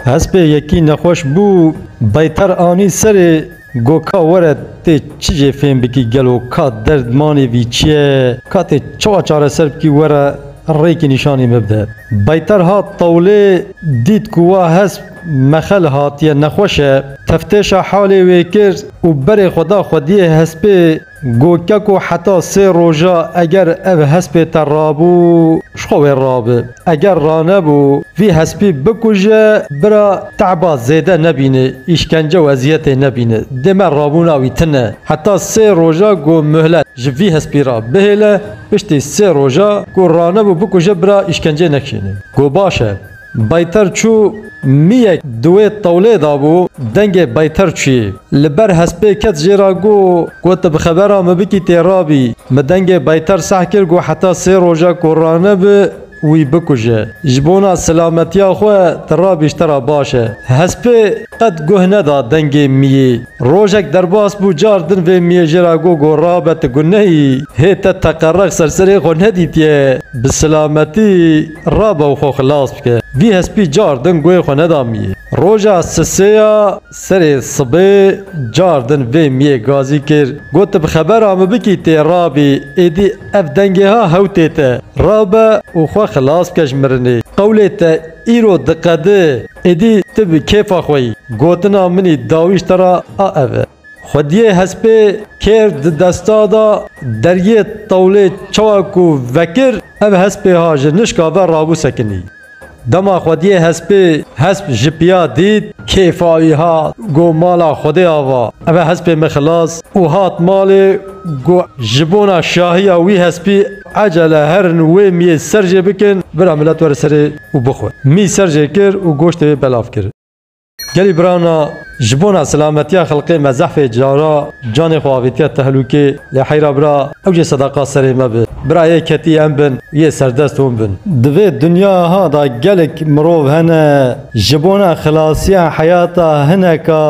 Hespê yekî nexweş bû, Beytar anî serê got ka were tê çi jê fêm bikî gelo ka derdmanê vî çi ye, ka tê çawa çareser bikî were rêkî nîşanî min bide. Beytar hat tewlê dît ku wa hesp mexel hatiye nexweş e, teftêşa halê wê kir û berê xwe da xwediyê hespê. Go keko heta sê roja eger ev hespê te rabû ji xwe wê rabi. Eger ranebû vî hespî bikuje bira te'ba zêde nebîne, îşkence û eziyetê nebîne. Dê me rabûna wî tine. Heta sê roja go muhlet ji vî hespî re bihêle, piştî sê roja go ranebû bikuje bira îşkencê nekişîne. Go baş e. Baytar çû mîyek di wê tewlê de bû, dengê Baytar çûyê li ber hespê ket jê re got, Ku tu bi xebera min bikî tê ra bî. Min dengê Baytar seh kir ku heta sê roj e ku ranibe wî bikuje. Ji bona silametiya xwe tu rabî ji te re baş e. Hespê qet guh neda dengê mîyê. Rojek derbas bû car din vê mîyê jê re got ku rabe tu ku neyî. Hê te teqerex ser serê xwe nedîtiye. Bi silametî. Rabe û xwe xilas bike. Vî hespî car din guhê xwe neda miyê. Roja sisê ya serê sibê car din vê miyê gazî kir. Got tu bi xebera min bikî tê rabî. Êdî ev dengê ha hewtê te. Rabe û xwe xilas bike ji mirinê. Qewlê te îro diqedi. Êdî tu bi kêfa xwe yî. Gotina minî dawîşt te ra a ev e. Xwediyê hespê kêr di desta da deriyê tewlê çawa ku vekir ev hespê ha ji nişka ve rabû sekinî. Dema xwediyê hespê hesp ji piya dît kêfa wî hat got mala xwedê ava eve hespê min xilas û hat malê got ji bona şahiya wî hespî ecele herin wê miyê ser jê bikin bira milet were serê û bixwe. Mî ser jê kir û goştê wê belav kir. Gelî birana ji bona silametiya xelkê me zehfê cara canê xwe avîtiye tehlûkê lê heyra bira ew jê sedaqa serê me bi. Bira yê ketî em bin û yê serdest hûn bin. Di vê dinyaya da gelek mirov hene ji bona xilasiya heyata hineka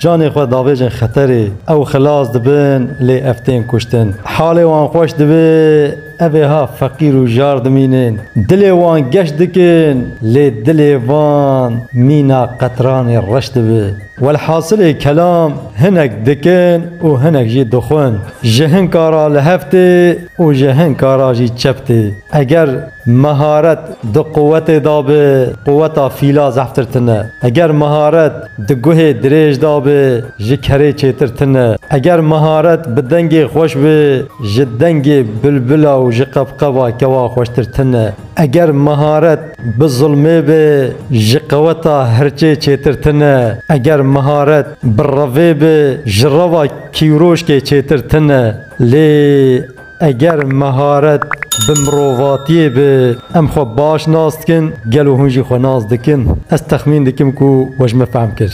canê xwe davêjin xeterê. Ew xilas dibin lê ev tên kuştin. Halê wan xweş dibe. Ev ê ha feqîr û jar dimînin. Dilê wan geş dikin, lê dilê van mîna qetranê reş dibe. Welhasilê kelam hinek dikin û hinek jî dixwin. Ji hinka ra li hev tê û ji hinka ra jî çep tê. Eger meharet di quwetê de be, quweta fîla zehftir tune. Eger meharet Di guhê dirêj de be ji kerê çêtir tune. Eger miharet bi dengê xweş be ji dengê bilbila û ji qebqeba kewa xweştir tune. Eger miharet bi zilmê be ji qeweta hirçê çêtir tune. Eger miharet bi revê be ji reva kîwroşkê çêtir tune. Lê. Eger meharet bi mirovatiyê be, em xwe baş nas dikin, gelo hûn jî xwe nas dikin? Ez texmîn dikim ku we ji min fehm kir.